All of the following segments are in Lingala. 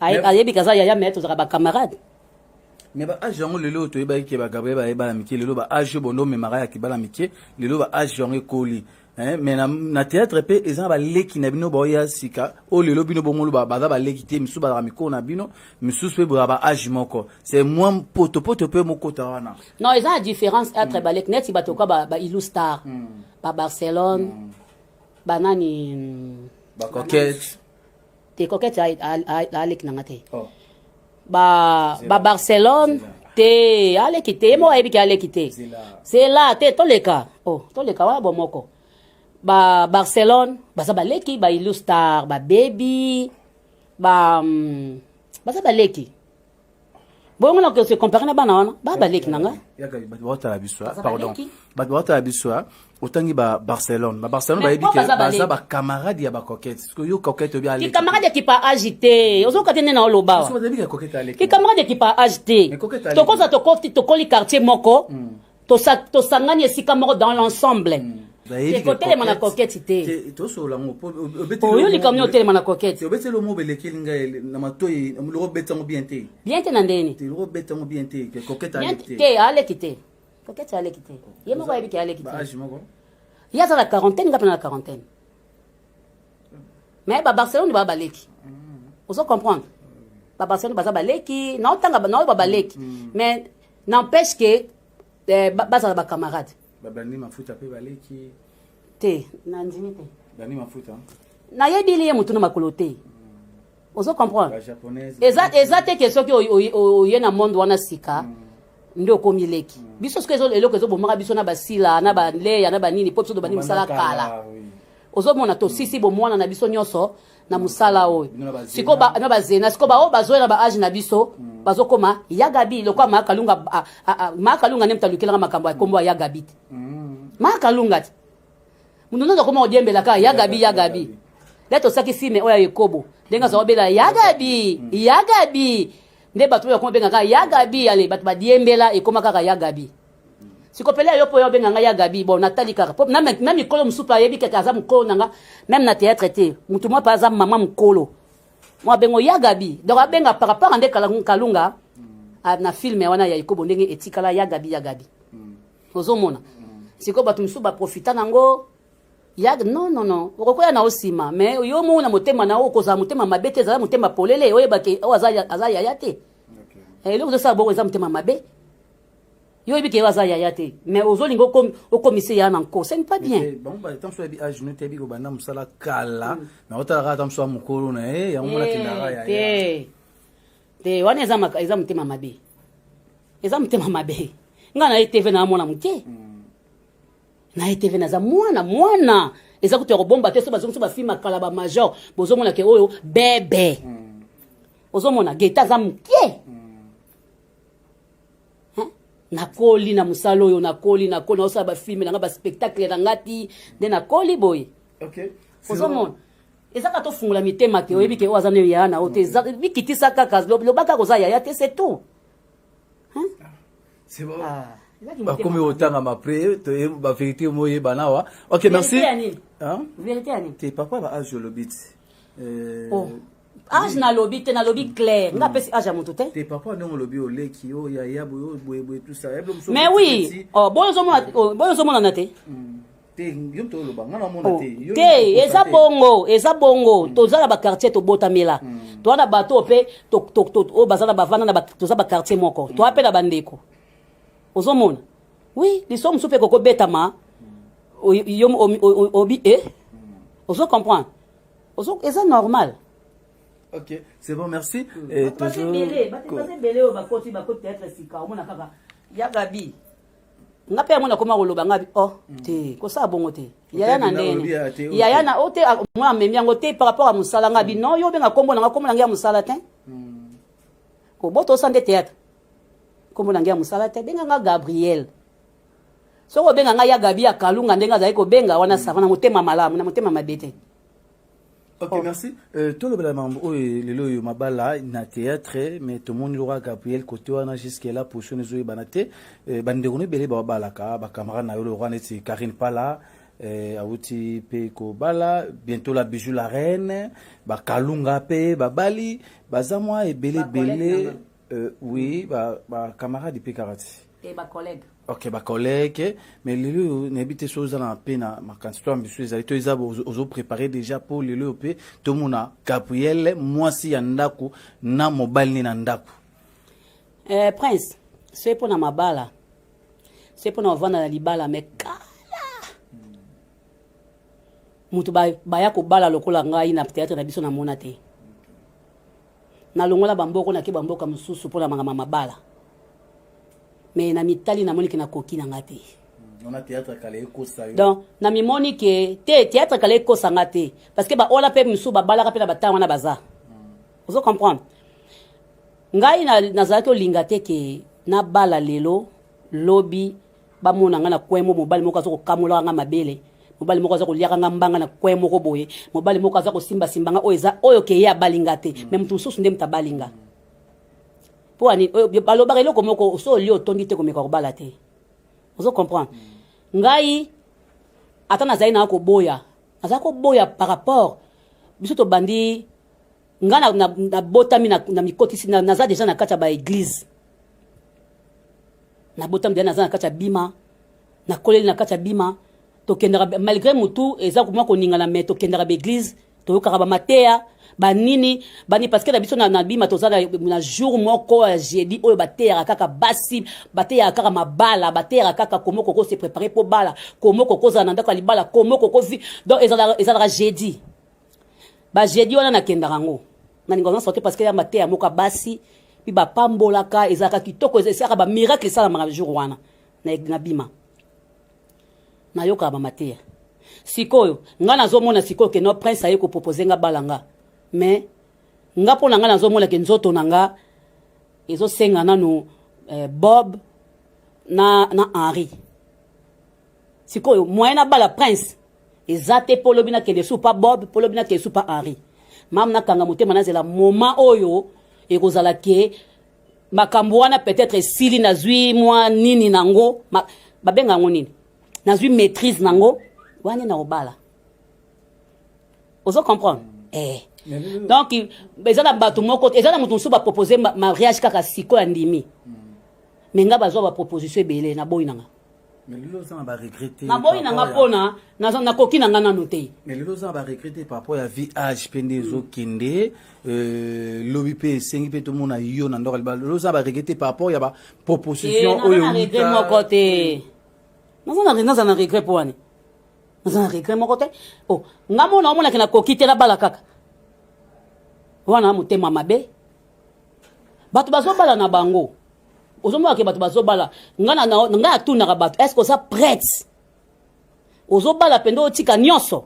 ayebi kaza yaya me tozalaka bacamarade me ba age yango lelo toyebaki ke bagabriel baye bana mike lelo ba age bondo omemaka ya kibana mike lelo ba age yango ekoli eh, me na, na théâtre mpe eza na baleki na bino baoya sika oyo lelo bino bongolo baza baleki te misusu bazalaka mikolo na bino misusu mpe boya ba age moko c'est mwa potopoto mpe mokota wana non eza na différence entre mm. baleki neti bato ka ba, ba ilu star mm. ba barcelone mm. banani ba coquette te coquette a leki na nga te oh. ba ba Barcelone te a leki te ye moko ayebi ke a leki te zela te toleka oh toleka wana bo moko ba Barcelone baza ba leki ba Illustar ba Baby ba mm, baza ba leki bongo na se compare na bana wana ba baleki na nga bato baotala biso ah, pardon bato baotala biso ah. otangi ba barcelone ba barcelone bayebi ke baza bacamarade ya bacoquete soki yo coquete obi aleki camarade ya kipa age te ozoka te nde na oloba wa ki camarade ya kipa age te tokoza tokoti tokoli quartier moko mm. tosangani esika moko dans l'ensemble mm. ekotelema na koketi te tosolola yango po oyo likambo nini otelema na koketi obeti elo mo belekeli ngai na matoi loko obeti yango bien te bien te na ndeni te loko obeti yango bien te koketi aleki te te aleki te koketi aleki te ye moko ayebi ke aleki te age moko ye aza na quarantaine ngai pena na quarantaine mais ba barcelone baa baleki mm. ozo comprendre ba barcelone baza baleki naotanga naoyo ba baleki mm. mais n'empêche que eh, bazala ba camarade babandi mafuta mpe baleki te nandimi te bandi mafuta nayebili ye motu na makolo te hmm. ozo comprendre eza, eza te ke soki oye na monde wana sika mm. nde okomi leki mm. biso soki eloko ezobomaka biso na basila na baleya na banini mpo biso tobandi mosala kala ozomona tosisi bomwana na biso nyonso na mosala oyo siko na bazena siko baoyo bazoyela ba age na biso hmm. bazokoma ya gabi lokola maakalunga maakalunga nde moto alukelaka makambo ya nkombo ya ya gabi te hmm. maakalunga te moto nde akoma kodiembela kaka ya gabi ya gabi nde tosaki filme oyo ya ekobo ndenge azala obela ya gabi hmm. ya gabi nde bato oyo akoma benga kaka ya gabi ale bato badiembela ekoma kaka ya gabi sikopele yo mpo yo obenga ngai ya gabi bon natali kaka mpo na mikolo mosusu mpe ayebi keke aza mokolo na nga meme na théâtre te motu mwa mpe aza mama mokolo mwa abengo ya gabi donc abenga par rapport a nde kalunga ah, na filme wana ya ikobo ndenge etikala ya gabi ya gabi mm. ozomona mm. sikoyo bato mosusu baprofita nango ya non non non okokoya na osima mais yo moko na motema na yo okozala motema mabe te ezala motema polele oyebake oyo aza yaya te eloko ezosala boko eza motema mabe yo oyebi ke yo aza yaya te mais ozolinga okomise yaya na nko ce n'est pas bien bango batango so yebi age no te yebi kobanda mosala kala mm. mais otalaka ata moso ya mokolo na ye yango mona kendaka eh, yaya te wana eza motema mabe eza motema mabe ngai na ye tv na mwana moke mm. na ye tv naza mwana mwana eza kutu ya kobomba te so bazongisi bafilme kala bamajor bozomona ke oyo bebe mm. ozomona geta aza moke nakoli na mosala oyo nakoli nakoli naosala bafilme na nga baspectacle na nga ti nde nakoli boye ozomona eza kaka tofungola mitema te oyebi ke oyo aza nayo yaya na oyo te bikitisa kaka loba kaka oza yaya te c'est tout ah, bakomi kotangama pre baverité moyebana awa ok merci verité ya nini te papa ba age olobi ti age nalobi te nalobi clair nga pesi age ya moto te te papa ndenge olobi oleki yo ya ya boyo boye boye tout ça mais oui oh boyo ozomona oh, boyo ozomonana te hmm. te yo to oloba nga namona oh, te te eza bongo eza bongo hmm. toza na ba quartier tobotamela hmm. toza na bato mpe oyo baza na bavanda na toza ba quartier moko toza mpe na bandeko ozomona oui liso mosusu mpe kokobetama yo obi e ozo comprendre ozo eza normal ok c'est bon merci mm. et toujours baza ebele oyo bakoti bakoti théâtre sika omona kaka ya gabi nga mpe yango nakoma koloba nga oh mm. te kosala bongo te yaya na ndene yaya na o oh, te ah, mwa amemi yango te par rapport ya mosala nga bi mm. non yo obenga nkombo na nga nkombo na ngai ya mosala te kobotosa nde théâtre nkombo na ngai ya mosala te benga nga gabriel soki obenga ngai ya gabi ya kalunga ndenge azali kobenga wana mm. sava na motema malamu na motema mabe te ok oh. merci euh, tolobela mambo oyo oh, lelo oyo mabala na théâtre mais tomoni loka gabriel kote wana jusque la position ezoyebana te euh, bandeko no ebele babalaka bacamarade na yo loka neti karine pala eh, awuti mpe kobala bientôt la bijou la reine bakalunga mpe babali baza mwa ebele ebele Euh, oui, ba, ba camarade pe kaka ti. Et ba collègue. Ok, ba collègue. Mais lelo nayebi te soki oza na mpe na makanisi to ambition ezali to eza ozo prépare déjà mpo lelo oyo mpe tomona gabriele mwasi ya ndako na mobali ne na ndako. Eh, prince soki mpo na mabala soki mpo na kovanda na libala me kala moto baya kobala lokola ngai na théâtre na biso namona te nalongola bamboko nake bamboka mosusu mpo na makambo ya mabala me na mitali namoni ke nakoki na nga te donc na mimoni ke te théâtre kala ekosa nga te parce que baola mpe misusu babalaka mpe na batanga wana baza hmm. ozo comprendre ngai nazalaki olinga te ke nabala lelo lobi bamona nga na coin mo mobali moko aza kokamolaka nga mabele mobali moko aza koliaka nga mbanga na coin moko boye mobali moko aza kosimbasimba nga oyo eza oyo keye abali nga te me moto mosusu nde moto abali nga mpo ani balobaka eloko moko so olie otondi te komeka kobala te ozo comprendre ngai ata nazali naa koboya nazali koboya par rapport biso tobandi nga na, na, na botami na, na mikotisi na, naza deja na kati ya ba église na botami deja naza na kati ya bima na koleli na kati ya bima tokendaka malgré mutu eza komwa koningana mais tokendaka ba église toyokaka ba mateya banini bani parce que na biso na bima toza na jour moko ya jeudi oyo bateyaka kaka basi bateyaka kaka mabala bateyaka kaka komo koko se préparer mpo bala komo koko ozala na ndako ya libala komo koko vi donc ezalaka jeudi ba jeudi wana nakendaka yango nalinga wana soki parce que ya mateya moko basi mpe bapambolaka ezalaka kitoko esalaka bamiracle esalamaka jour wana na bima nayokaka bamateya sikoyo ngai nazomona sikoyo ke no prince aye kopropose nga bala nga mais nga mpo na ngai nazomona ke nzoto na nga ezosenga nanu eh, bob na, na henri sikoyo moyen nabala prince eza te po lobi na kende su pa bob po lobi na kende su pa henri mam nakanga motema nazela moma oyo ekozala ke makambo wana peut-être esili nazwi mwa nini nango ma, babenga yango nini nazwi maîtrise nango wana na obala ozo comprendre eh. donc eza na bato moko eza na moto mosusu bapropose mariage kaka sikoyo andimi mm. me nga bazwa baproposition ebele na boyi na nga naboyi na nga mpona nakoki na nga nano te mais lelo oza na baregrete par rapport ya vie age mpe nde ezokende euh, lobi mpe esengi mpe tomona yo na ndoka libala lelo oza na baregrete par rapport ya baproposition eh, oyo regret moko te naza na regret mpo wana naza na regret moko te o oh, nga mona omonaki nakoki te nabala kaka wana motema mabe bato bazobala na bango ozomona ke bato bazobala ngai na ngai atunaka bato est ce que oza prête ozobala mpenza otika nyonso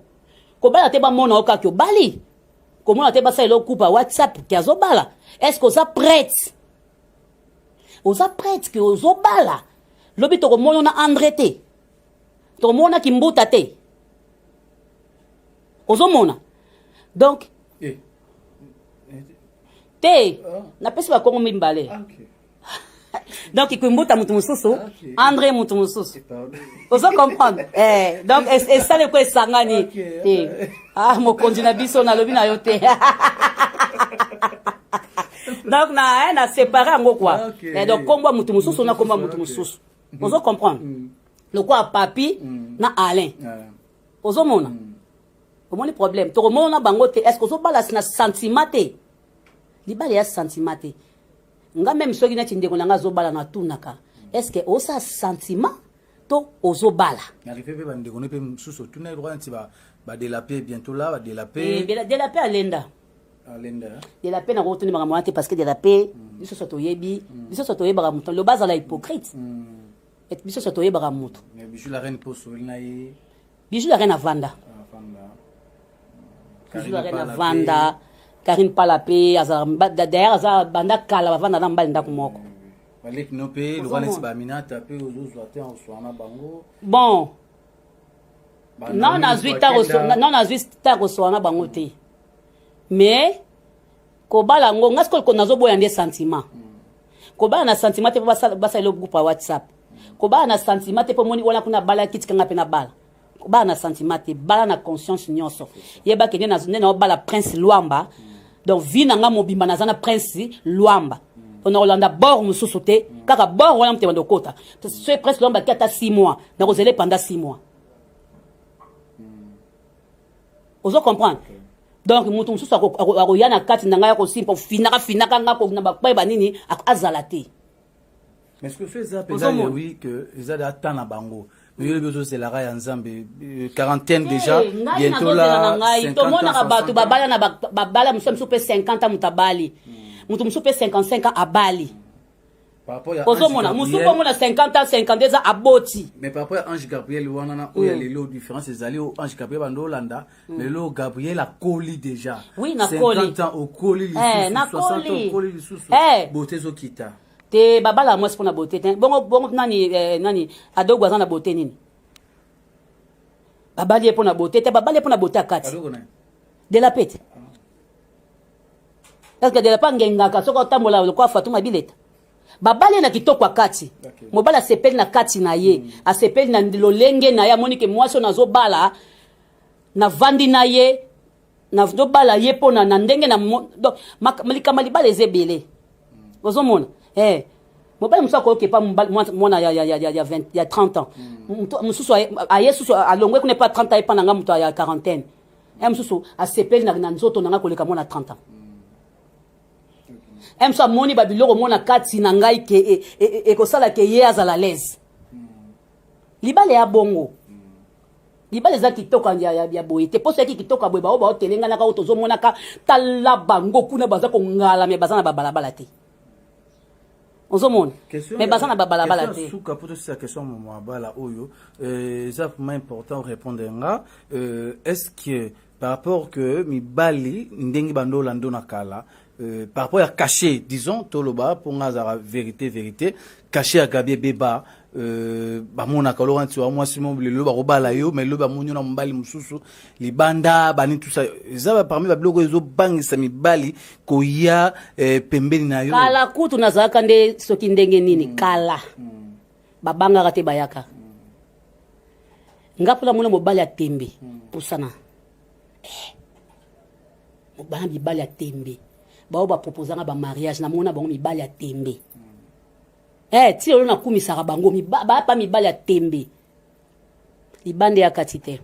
kobala te bamona yo kaka obali komona te basala eloko kupa whatsapp ke azobala est ce que oza prête oza prête ke ozobala lobi tokomono na andre te tokomono na kimbuta te ozomona donc eh. te ah. napesi bakongo mibale ah, okay. donc ikwembuta moto mosusu ah, andre moto mosusu ozo comprendre eh, donc esale ko esangani te ah mokonzi na biso nalobi na yo te donc na eh, na séparé yango quoi ah, eh, donc kombo moto mosusu na kombo moto mosusu ozo comprendre mm. lokola papi mm. na alain ah. Ozo mona? Mm. Omoni problème. Toko mona bango te. Est-ce que ozo bala na sentiment te? Libala ya sentiment te. Nga même soki neti ndeko na nga azo bala na tunaka. Est-ce que osa sentiment to ozo bala? Na rive pe bande ko ne pe mususu tuna ko nti ba ba de la paix bientôt là, ba de la paix. Eh, de la, de la paix alenda. Alenda. Hein? De la paix na ko tuni makambo te parce que de la paix mm. biso soto yebi, mm. biso soto yebaka mutu. Lobaza la hypocrite. Mm. Et biso soto yebaka mutu. Mais bijou la reine poso na ye. Bijou la reine avanda. Avanda. Bijou la reine avanda. Karine pala pe aza d'ailleurs aza banda kala bavanda na mbali ndako moko. Baleki no pe lokana ti ba minata pe ozo zwa te en soi na bango. Bon. Non nazwi ta ko non nazwi ta ko soi na bango te. Mais kobala yango nga sikoyo nazoboya nde sentiment kobala na sentiment te mpo basala eloko groupe ya whatsapp kobala na sentiment te mpo moni wana kuna abalaki tika nga mpe nabala kobala na sentiment te bala na conscience nyonso yebake nde nde naobala prince lwamba donc vie na nga mobimba naza na prince lwamba mpo nakolanda bor mosusu te kaka bor wana motema ndokota soki prince lwamba ki ata 6 mois nakozela epanda 6 mois ozo comprendre okay. donc moto mosusu akoya na kati na ngai akosimpa ofinaka finaka nga na bapai banini azala te mais ce que so eza mpenza yewi que eza da temps na bango miyobi ozozelaka ya nzambe euh, quarantaine eh, déjà bientôt la ngai tomonaka bato babala na babala mosusu ya mosusu mpe 50 ans moto abali moto mosusu mpe 55 ans abali ozomona mosusu bongo na 50 ans 50 eza aboti mais par rapport ya ange gabriel wana na oyo ya mm. lelo différence ezali oyo ange gabriel banda olanda mm. lelo gabriel akoli déjà oui nakoli ans okoli eh, lisusu okoli lisusu eh. bote ezokita te babala mwasi mpo na bote te bongo bongo nani eh, nani adogo aza na bote nini babali ye mpo na bote te babali ye mpo na bote ya kati de la pete Parce que de la pangue ngaka soka otambola lokwa Fatuma Bileta. babale na kitoko ya kati okay. mobali asepeli na kati na ye mm. asepeli na lolenge na ye amoni ke mwasi oyo nazobala navandi na ye nazobala ye mpo na ndenge na likambo ya libala eza ebele mm. ozomona hey. Eh, mobali mosusu akoyoka epa mwana ya, ya, ya, ya, ya, 20, ya 30 ans mm. mosusu aye susu alongwe kuna epa 30 ans epa na ngai moto ya quarantaine mm. un mosusu asepeli na nzoto na ngai koleka mwana 30 ans un mosusu amoni babiloko mona kati na ngai ke e, e, e, ekosala ke ye azala lese libala ya bongo libala eza kitoko ya boye te mposo yaki kitoko ya boye baoyo baotelenganaka oyo tozomonaka tala bango kuna baza kongalama baza na babalabala te ozomona mais baza na babalabala te suka mpo tosisa question mama abala oyo euh, eza vraiment important orépondre nga euh, est ce que par rapport que mibali ndenge bando olando na kala Euh, par rapport ya cachet disons toloba mpo nga azalaka vérité vérité cachet ya gabi ebeba euh, bamonaka oloko nti wa mwasi mo lelo bakobala yo mai lelo bamoni yo na mobali mosusu libanda bani tusa eza parmi babiloko ezobangisa mibali koya eh, pembeni na yo kala kutu nazalaka nde soki ndenge nini mm. kala mm. babangaka te bayaka mm. nga mpona mona mobali ya tembe mm. pusana eh. bana mibali ya tembe baoyo bapropozanga bamariage namona bango mibali ya tembe mm. eh, ti lelo nakumisaka bango bapa mibali ya tembe libanda ya kati te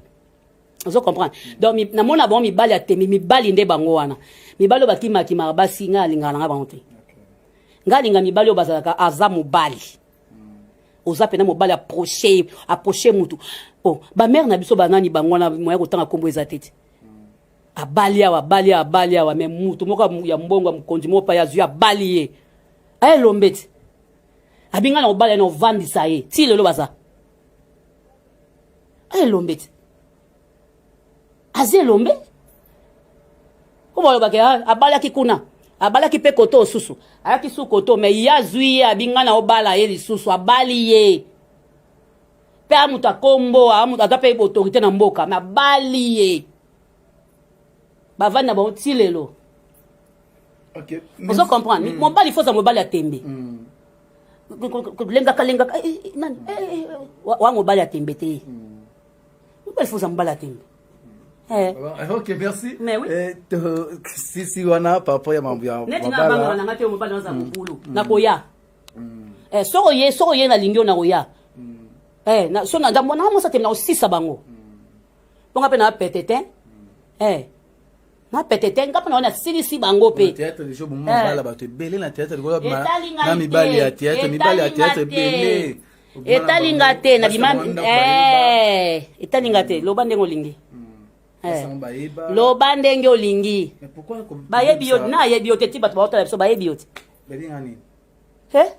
ozo comprendre donc namona bango mibali ya temi mibali nde bango wana mibali oyo bakimakimaka basi ngai alingaka na ngai bango te ngai alinga mibali oyo bazalaka aza mobali hmm. oza mpena mobali aproche aproche motu o oh, bamare na biso banani bango wana moya kotanga nkombo eza te te hmm. abali awa abali awa abali awa me motu moko ya mbongo ya mokonzi moko pai azwi abali ye ayelombe te abinga na obala na ovandisa ye ti lelo baza elombe ti aza elombe po balobaka ah, abalaki kuna abalaki mpe koto osusu ayaki su koto me ye azwi ye abinga na obala ye lisusu abali ye mpe a moto akombo a moto aza mpe boautorité na mboka me abali ye bavandi na bango ti lelo okay. ozo comprendre mm. mobali foza mobali ya tembe mm. lengaka lengaka eh, eh, nani mm. eh, wa mobali ya tembe te mm. mobali foza mobali ya tembe Eh. eh. ok merci mais oui. eh, to, sisi wana papa ya mambo ya neti nga banga na nga te mobali naza mm. mobulu mm. nakoya mm. eh, soko ye soko ye nalingi yo nakoya mm. eh, na, so na ndambo na nga mosa tembe nakosisa bango mm. mpo nga mpe na pete te eh. na pete te nga mpe naona silisi bango mpe eh. bato ebele na teatre na mibali ya teatre mibali ya teatre ebele etali nga te na bima eh, etali nga te loba ndenge olingi Eh. loba ndenge olingi bayebi yo nayebi yo te ti bato baotala biso bayebi yo te eh?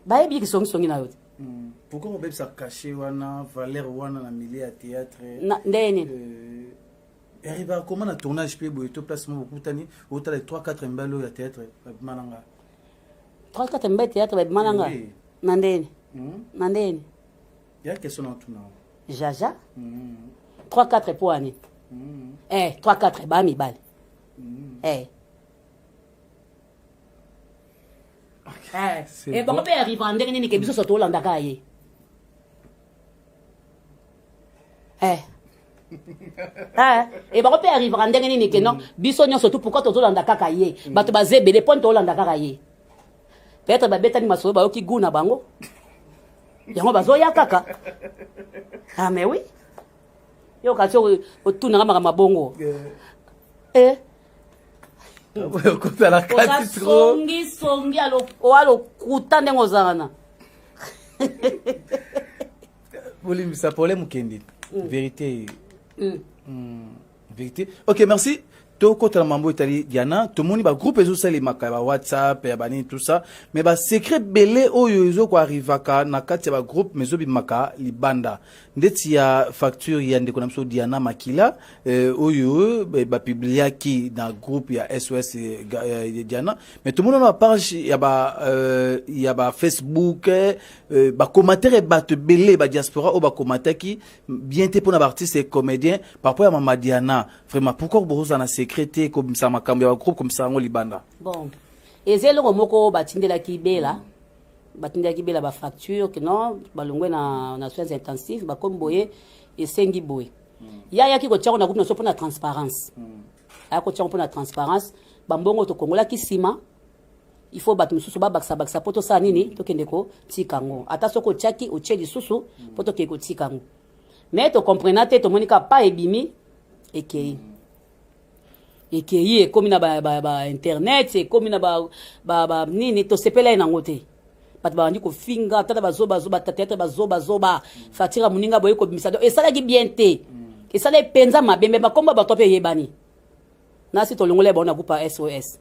bayebi ye kisongisongi na yo te hmm. pourquoi kobebisa cachet wana valeur wana na milieu ya théâtre ndenge nini euh, eriba akoma na tournage mpe boye to place moko bokutani otala 3 4 mbali oyo ya théâtre babima na ngai 3 4 mbali théâtre babima na ngai na ndenge hmm? na ndenge ya question na otuna jaja 3 4 mpo ani eh 3 4 ba mibali eh Eh, eh, bango mpe ya riva ndenge nini ke biso so tolandaka ye eh. e bango mpe ya riva ndenge nini ke non biso nyonso tu pourkoi tozolanda kaka ye mm. bato baza ebele mpo nte olanda kaka ye peut-être babetani masolo bayoki goût na bango yango bazoya kaka ah mais oui yo kasi otunanga makambo mabongo eh. okota na kati songi songi oa lokuta ndenge ozala na bolimbisa pole mokende mm. verité mm. Mm, verité ok merci tokota na mambo etali diana tomoni bagroupe ezosalemaka ya bawhatsapp ya banini tout ça mais basecret bele oyo ezokoarrivaka na kati ya bagroupe ma ezobimaka libanda ndeti ya facture ya ndeko na biso Diana Makila eh, oyo eh, bapubliaki na groupe ya SOS eh, eh, Diana mais tomona na page ya ba euh, ya ba Facebook eh, euh, ba commentaire bato ebele ba diaspora oyo bakomataki bien te mpona baartiste et comédien par rapport ya mama Diana vraiment pourquoi bokozala na secret te kobimisa makambo ya bagroupe komisa yango libanda bon eza eloko moko batindelaki bela mm. batindaki bela ba facture que non balongwe na, na soins intensifs bakomi boye esengi boye mm. ye ayaki kotia ngo na groupe na biso mpo na transparence mm. ayaki kotia ngo mpo na transparence bambongo tokongolaki nsima il faut bato mosusu babakisabakisa mpo tosala nini tokende kotika yango ata soki otyaki otye lisusu mpo tokende kotika yango mais tokomprena te tomoni kaka pa ebimi ekei ekeyi ekomi na ba, ba, ba internet ekomi na ba, ba, ba nini tosepela ye nango te bato babandi kofinga tata bazobazoba tateatre bazobazoba fatira moninga boye kobimisa do esalaki bien te esalaki mpenza mabe mpe bakombo ya bato mpe eyebani nasi tolongola bango na groupe ya sos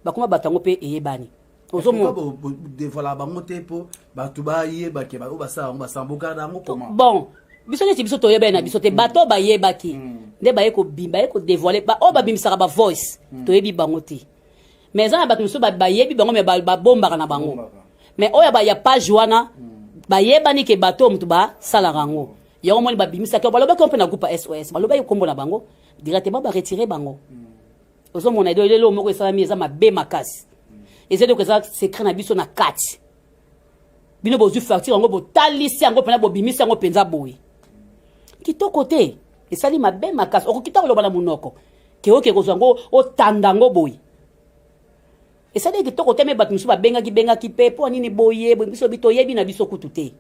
bakoma bato yango mpe eyebani ozodevoila bango te mpo bato bayeba ke baoyo basala yango basambokana yango koma bon biso neti biso toyebani na biso te mm. bato bayebaki mm. nde baye kobima baye kodevoile baoyo babimisaka bavoice mm. toyebi bango te mais eza na bato mosusu bayebi bango me babombaka na bango mais oyo ya page wana bayebani ke bato oyo moto basalaka yango yango moni babimisaki balobaki mpe na groupe sos balobaki nkombo na bango directement baretire bango mm. ozo mona edo lelo moko esalami eza mabe makasi eza eloko eza secret na biso na kati bino bozwi facture yango botalisi yango mpena bobimisi yango mpenza boye kitoko te esali mabe makasi okoki ta koloba na monoko keoke kozwa yango otanda yango boye esali kitoko te me bato mosusu babengaki bengaki mpe mpo nini boye boye biso bi toyebi na biso kutu te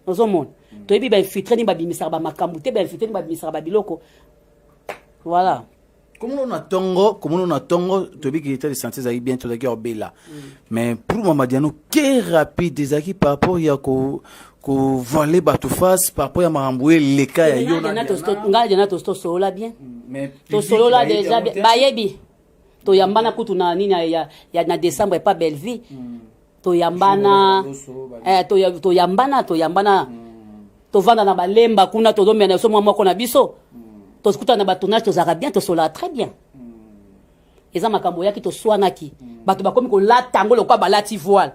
ozomona mm. toyebi bainfiltre nini babimisaka bamakambo te bainfiltre nini babimisaka babiloko voilà komono na tongo komono na tongo tobiki etat de santé ezalaki bien tozalaki obela mm. mais pour mamadiano ke rapide ezalaki par rapport ya ko kovoile bato face par rapport ya makambo eleka ya yo ngai dena tosolola bien mm, tosolola deja bayebi toyambana kutu na nini ya, ya, na décembre epa bellevie mm. toyambana eh, toyambana toyambana mm. tovanda na balemba kuna tozomela na biso mwa moko na biso mm. tokutana na batournage tozalaka bien tosolaka très bien mm. eza makambo oyaki toswanaki bato bakomi kolata yango lokola balati voile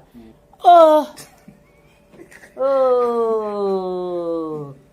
oh. Oh.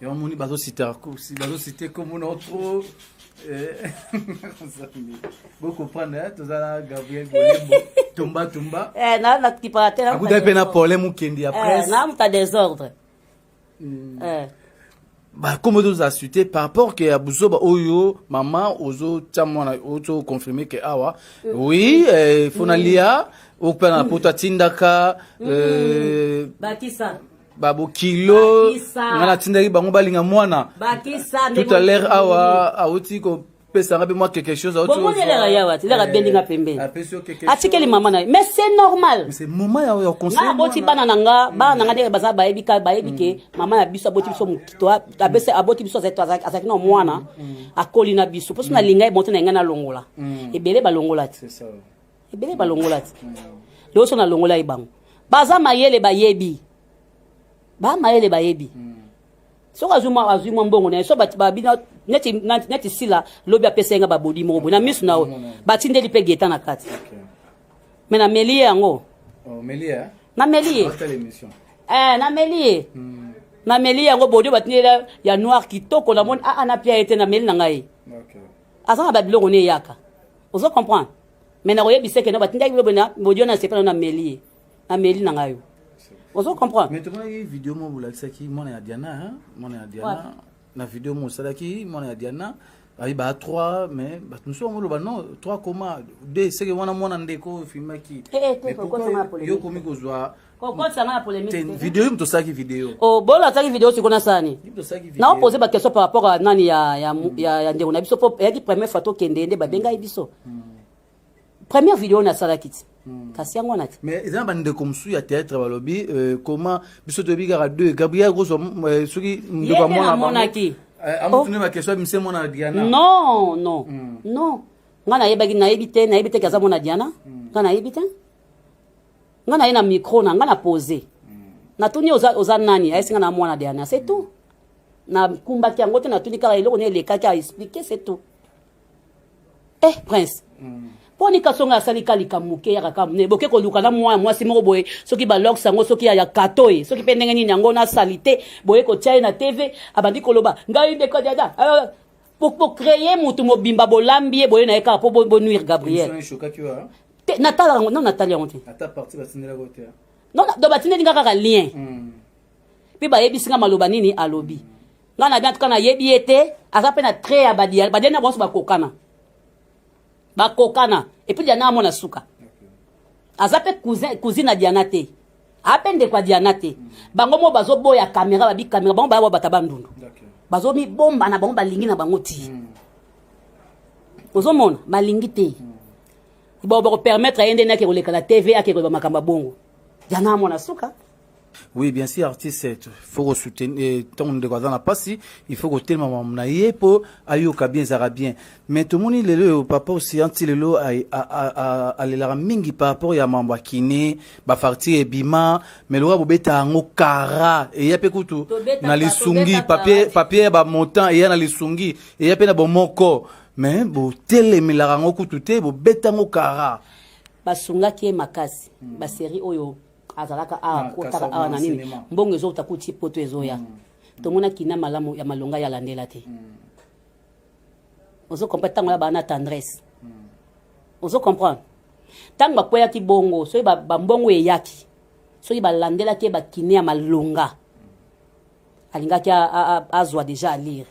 yango moni bazosite kombo nao tro eh. bokoprendre eh, toza na gabriel bolembo tumba tumba eh, nakipaka te akutaki mpe na pole mokendi ya presse na moto ya desordre mm. eh. bakomi tozala sute par rapport ke ya buzoba oyo mama ozotya mwana ozoconfirme ke awa mm. oui eh, fona mm. lia okupela na poto atindaka mm. eh, bakisa babokilo ngai natindaki bango balinga mwana tout à l'heure awa awuti ko pesa nga pe mwa quelque chose autre chose bomoni la yawa ti la bendi nga pembeni apesi yo quelque chose atikeli mama na mais c'est normal c'est mama ya ya conseil na boti bana na nga bana na nga ndenge baza bayebi ka bayebi ke mama ya biso aboti biso mokito abese aboti biso azaki azaki na mwana akoli na biso mpo so na linga ebonte na nga na longola ebele balongola ti ebele balongola ti lelo so na longola ye bango baza mayele bayebi ba mayele bayebi mm. soki azwi mwa azwi mwa mbongo na ye so babina neti neti sila lobi apesa ye nga babodi moko boye na miso na yo batindeli mpe geta na kati me nameli ye yango nameli ye nameli ye nameli ye yango bodi batindeli ya noir kitoko namoni aa ah, ah, napia ye te nameli na ngai aza na babiloko ne eyaka ozo comprendre me nakoyebisa ekena batindaki bilo boye na bodi wana asepela nameli ye ameli na ngai ozo comprendre mais tomonaki video moko bolakisaki mwana ya diana mwana ya diana na video moko osalaki mwana ya diana ayi ba 3 mais bato mosusu yango oloba non 3 koma de seke wana mwana ndeko oyo ofilmaki eh, eh, yo okomi kozwa video yo moto osalaki video oh, bolo asalaki video siko nasani naopose baquestion par rapport a nani ya ndeko na biso po eyaki première fois tokende nde babengaki biso hmm. première video na salaki ti hmm. kasi yango wana ti mais eza na bandeko mosusu ya théâtre balobi euh, comment biso toyebi kaka deux gabriel kozwa euh, soki ndeko amonaki euh, amotuni oh. bakestion ya mise mona diana non non hmm. non ngai nayebaki nayebi te nayebi te ke aza mona diana hmm. ngai nayebi te ngai naye na micro na ngai na pose natuni oza, oza nani ayesi ngai na mwana diana c'est tout nakumbaki yango te natuni kaka eloko ne elekaki a explike c'est tout eh prince mm. mpo nika songo asali ka likambo moke yaka ka mne boke koluka na mwa ya mwasi moko boye soki baloks yango soki ya kato ye soki mpe ndenge nini yango na salite boye kotya ye na tv abandi koloba ngai nde kadiada ah, bocreye motu mobimba bolambi ye boye na ye kaka mpo bonuire gabriel natala yango no natali yango te non do batindeli nga kaka lien mm. mpe bayebisi nga maloba nini alobi nga na bien tuka nayebi ye te aza mpe na trait ya badia badia na banso bakokana bakokana epuis diana amona suka aza mpe cousine ya diana te ape ndeko ya diana te bango moko bazoboya kamera babi kamera bango baya babata bandundu bazomibomba na bango balingi na bango ti hmm. ozomona balingi te hmm. bakopermettre ye nde nake koleka na tv ake koyeba makambo ya bongo diana amona suka oui bien sûr artiste eh, faut ko soutenir eh, ntango ndeko aza na mpasi il faut kotelema mamu na ye mpo ayoka bien ezalaka bien mais tomoni lelo oyo papa osian ti lelo alelaka mingi par rapport ya mambo ya kine bafarti ebima mais lokola bobeta yango kara eya mpe kutu na lisungi papier ya bamontant eya na lisungi eya mpe na bomoko mais botelemelaka yango kutu te bobeta yango kara basungaki ye makasi baserie oyo azalaka awa ah, kotaka awa na nini mbongo ezouta kuti poto ezoya mm. tomonaki na malamu ya malonga ya landela te mm. ozo comprendre ntango ya baa na tendresse mm. ozo comprendre ntango bakweyaki bongo soki bambongo eyaki soki balandelaki ye bakine ya malonga alingaki azwa deja alire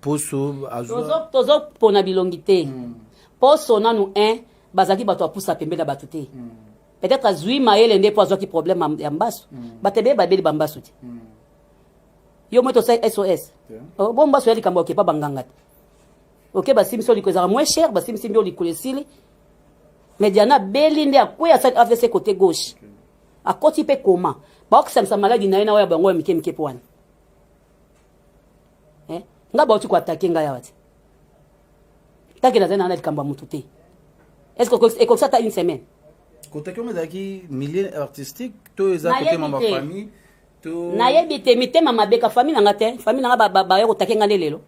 poso tozo pona bilongi te mm. poso nanu un bazalaki bato apusa pembe na bato te mm. peut-être azwi mayele nde mpo azwaki problème ya mbasu mm. bato ebele babeli bambasu te mm. yo moi tosali sos yeah. Oh, bo mbasu ya likambo okepa banganga te oke basimisi yo likolo ezalaka moins cher basimisi mbi yo likolo esili mais diana beli nde akwe asali avc côté gauche okay. akoti mpe koma baokisamisa maladi na ye na oyo ya bango ya mike mike mpo wana eh? nga bauti koatake ngai awa te tanke nazali nanga na likambo ya motu te est ce que ekokisa ata une semaine kotaki yango ezalaki milieu artistique to eza kotema bafamille nayebi te mitema mabeka famille nanga te famille nanga baya kotake nga nde lelo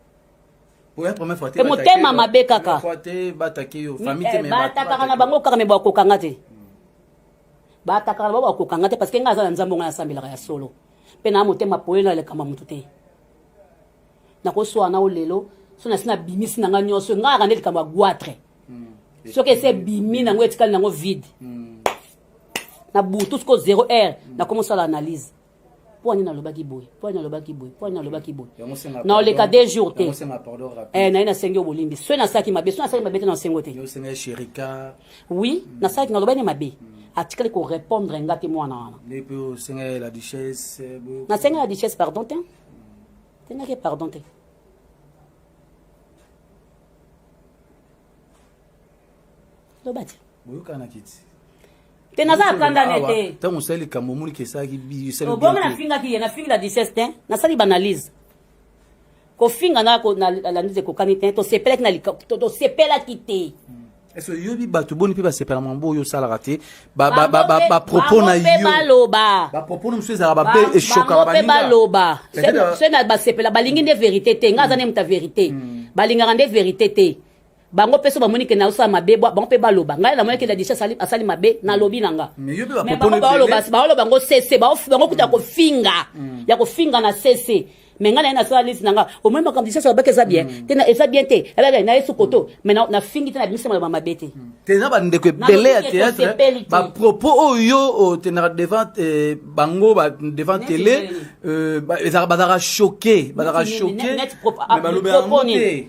e motema mabe kaka eh, batakaka na bango kaka me bakokanga te batakaka na bango bakokanga te parce que ngai aza na nzambe ngai asambelaka ya solo mpe na motema polele na likambo ya moto te nakoswana o lelo so nasi nabimisi na ngai nyonso ngai akande likambo ya guatre hmm. soki esi ebimi nango etikali nango vide hmm. na butu siko zero heure hmm. nakomosala analyse mpo ani nalobaki boye mpo ani nalobaki boye mpo ani nalobaki boye na oleka de jour te eh, naye nasengi yo bolimbisi soki nasalaki mabe soki nasalaki mabe te na osengo te oui nasalaki naloba nde mabe atikali korépondre nga te mwana wana nasengaki la duchesse pardon te sengaki pardon te loba te boyokana kiti te naza akanda ne te ntango osali likambo omoni kesalaki biobongo nafingaki ye nafingi la duchesse te nasali banalyse kofinga na landi ekokani te tosepelaki na tosepelaki te ese oyebi bato boni mpe basepela mambo oyo osalaka te bapropos na yobapropos na mosusu ezalaka bape eshokaka mpe baloba soki basepela balingi nde verité te ngai aza nde moto ya verité hmm. balingaka nde verité te bango mpe so bamoni ke naosala mabe bwa bango mpe baloba ngai namoni ke ladisha asali, asali mabe nalobi na nga me bango baoloba baoloba bango sese bango kuta ya mm. kofinga mm. ya kofinga na sese me ngai naye nasala lisi na nga omoi makambo lisasi babaki eza bien mm. te eza bien te ebebe na yesu koto me nafingi te na bimisa maloba mabe te te eza bandeko ebele ya théâtre bapropos oyo otenaka devant eh, bango devant télé euh, bazalaka choqué bazalaka choqué ah, balobela yango te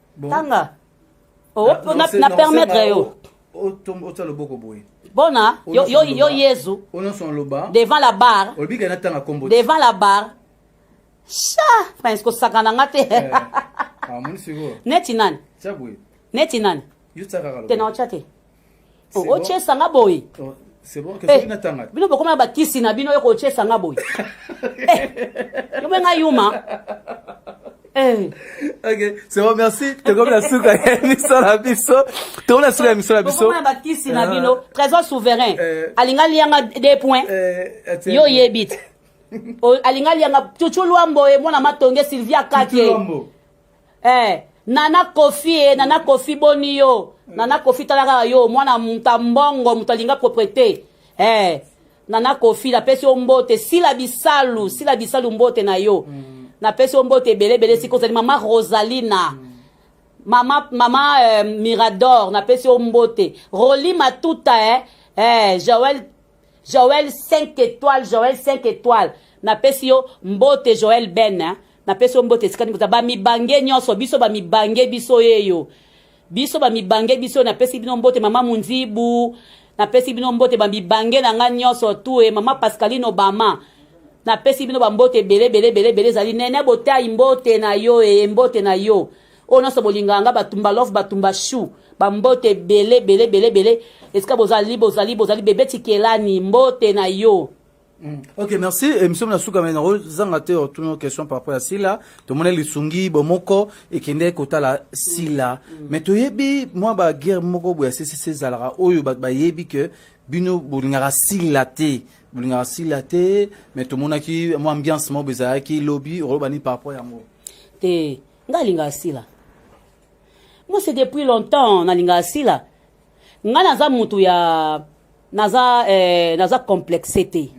tanga oh, na permettre yo otya loboko boye bona yo, yo, yo yezu devant la barre devant la barre sha prince kosakana nga te eh, ah, neti nani neti nani te na otya te oh, otyesa nga boye oh, eh, bino bokoma na bakisi na bino yoko otyesa nga boye eh, yobe nga yuma Eh. ok c'est bon merci tokomi na suka ya émission na biso tokomi na suka ya émission na biso na bakisi na bino ah. trésor souverain eh. alinga alianga deux points eh, yo oyebi te alinga alianga cucu lwambo ye mwana matonge sylvia kake eh nana kofi e nana kofi boni yo nana kofi tala kaka yo mwana moto ya mbongo moto alinga propriete eh nana kofi napesi yo mbote sila bisalu sila bisalu mbote na yo mm. napesi yo mbote ebele ebele sika ozali mama rosalina mm. mama mama eh, mirador napesi yo mbote roli matuta eh, eh joel joel 5 étoile joel 5 étoile napesi yo mbote joel ben eh. napesi yo mbote esika nini ba mibange nyonso biso ba mibange biso yeyo biso ba mibange biso napesi bino mbote mama munzibu napesi bino mbote ba mibange na ngai nyonso tu e mama pascaline obama napesi bino bambote ebele ebele ebele ebele ezali nene botai mbote na yo eye mbote na yo oyo nyonso bolingaka nga batumba love batumba chou bambote ebele ebele ebele ebele esika bozali bozali bozali bebe tikelani mbote na yo Mm. Ok, merci. Emission na suka mais nako zanga te otuno question par rapport à Sila. To mona lisungi bomoko et kende kotala Sila. Mm. Mais to yebi moi ba guerre moko boya sisi sezalara oyo ba ba yebi que bino bolingaka Sila te. Bolingaka Sila te mais to mona ki moi ambiance mo bezaya ki lobby oloba ni par rapport ya mo. Te ngalingaka Sila. Moi c'est depuis longtemps nalingaka Sila. nga naza mutu ya naza eh, naza complexe te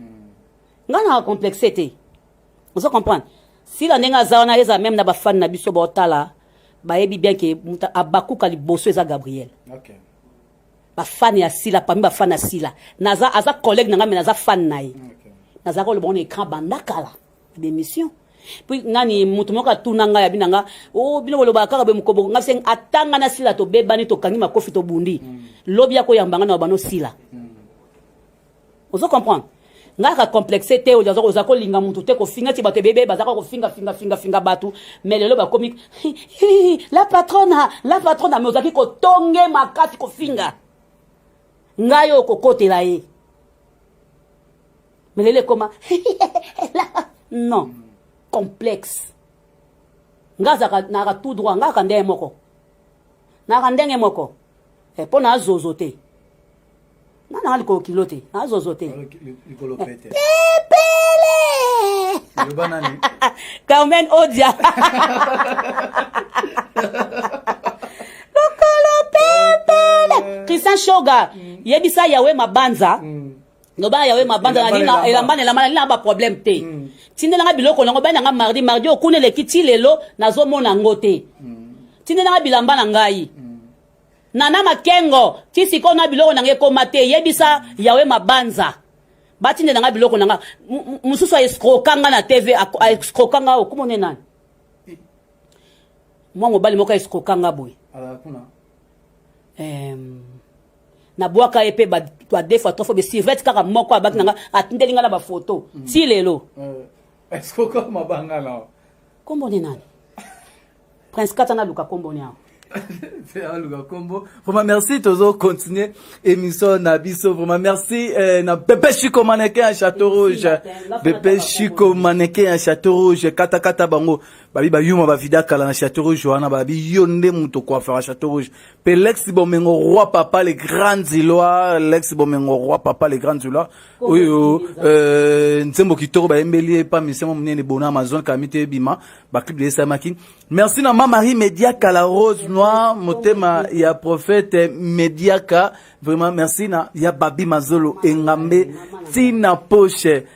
nga na complexe te ozo comprendre sila ndenge aza wana eza meme na bafani na biso baotala bayebi bien ke mutu abakuka liboso eza gabriel okay. bafani ya sila pami bafani ya sila naza aza collègue na nga me naza fani na ye okay. nazalaka oloba ngo na écran banda kala demission puis nani moto moko atuna ngai abina nga o oh, bino bolobaka kaka be mokoboko ngai seng atanga na sila tobebani tokangi makofi tobundi mm. lobi akoyamba ngai na babano sila mm. ozo comprendre ngai ka complexe te oza oza kolinga motu te kofinga ti bato ebebe bazaka kofinga finga finga finga bato mais lelo bakomi la patrona la patrona mais ozalaki kotonge makasi kofinga ngai oyo kokotela ye Mais lele koma non complexe nga azaka naka tout droit nga aka ndenge moko naka ndenge moko eh, mpo na azozo te nga nanga likolo kilo te na azozo te pepele carmen odia lokolo pepele christian shoga mm. yebisa yawe mabanza mm. loba yawe mabanda na linga elamba na elamba na linga ba problème te mm. tindela nga biloko nango bana nga mardi mardi okuna eleki ti lelo nazomona yango te mm. tindela nga bilamba na ngai mm. nana makengo ti sikoyo na biloko na ngai ekoma te yebisa yawe mabanza batindela nga biloko na nga mosusu aescroka nga na tv aescroka nga okomone nani eh. mwa mobali moko aescroka nga boye um, na bwaka ye mpe ba deux fois trois fois besivete kaka moko abaki na nga atindeli nga na bafoto mm. ti lelo kombo nde nani prince kata naluka kombo ni yango aluka kombo vraiment merci tozo continuer émission na biso vraiment merci eh, na bebe chiko maneke ya château rouge bebe chiko maneke ya château rouge katakata bango babi bayuma bavida kala na château rouge wana babi yo nde moto koafaka château rouge Pe Lex Bomengo roi papa le grand Zilois, Lex Bomengo roi papa le grand Zilois. Oyo euh nzembo kitoko ba embeli pa misemo munene bona Amazon kamite bima ba clip de Samaki. Merci na ma Marie Mediaka la rose noire motema ya prophète Mediaka. Vraiment merci na ya Babi Mazolo engambe tina poche.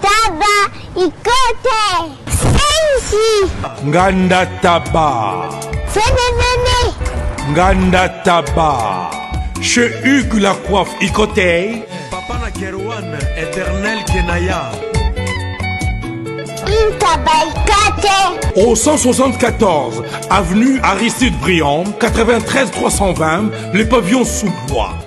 Taba ikote senzi. Nganda taba. Fenenene. Nganda taba. Chez Hugues la coiffe ikote. Papa na Kerwan éternel Kenaya. Au 174 avenue Aristide Briand, 93 320, les pavillons sous bois.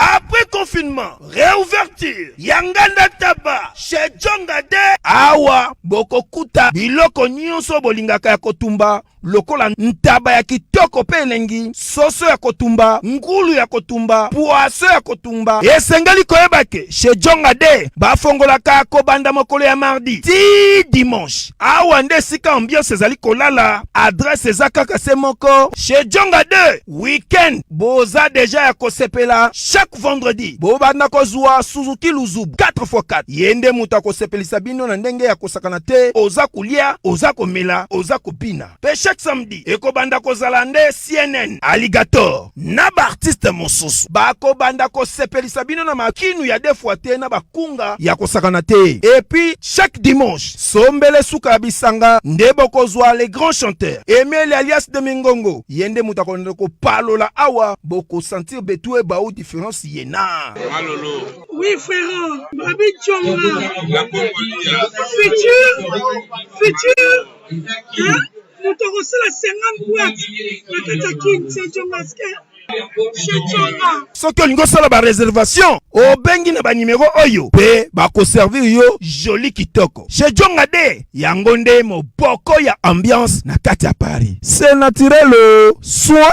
Après confinement, réouverture, Yanganda Taba, chez Djonga de awa bokokuta biloko nyonso bolingaka ya kotumba lokola ntaba ya kitoko mpe elengi, soso ya kotumba, ngulu ya kotumba, pwaso ya kotumba. Esengeli koyeba ke chez Djonga de bafongolaka kobanda mokolo ya mardi ti dimanche. awa nde esika ambiance ezali kolala adresse eza kaka se moko chez jonga 2 weekend boza deja ya kosepela chaque vendredi bobanda kozwa suzuki luzubu 4x4 ye nde moto akosepelisa bino na ndenge ya kosakana te oza kolia oza komela oza kobina Pe chaque samedi ekobanda kozala nde CNN, Alligator na ba artiste mosusu bakobanda kosepelisa bino na makinu ya defwa te na bakunga ya kosakana te. Epuis chaque dimanche sombele suka ya bisanga nde bokozwa le grand chanteur Emeli alias de Mingongo, ye nde moto akolanda kopalola awa bokosentir betue bao difference yena. Malolo. Oui frère, Babi Tshonga. La Congolia. Futur, futur. moto akosala 50 boite na kati ya kin sejongaske soki olingi osala bareservation obengi na banimero oyo mpe bakoservir yo joli kitoko chez jonga de yango nde moboko ya ambiance na kati ya paris se naturel soin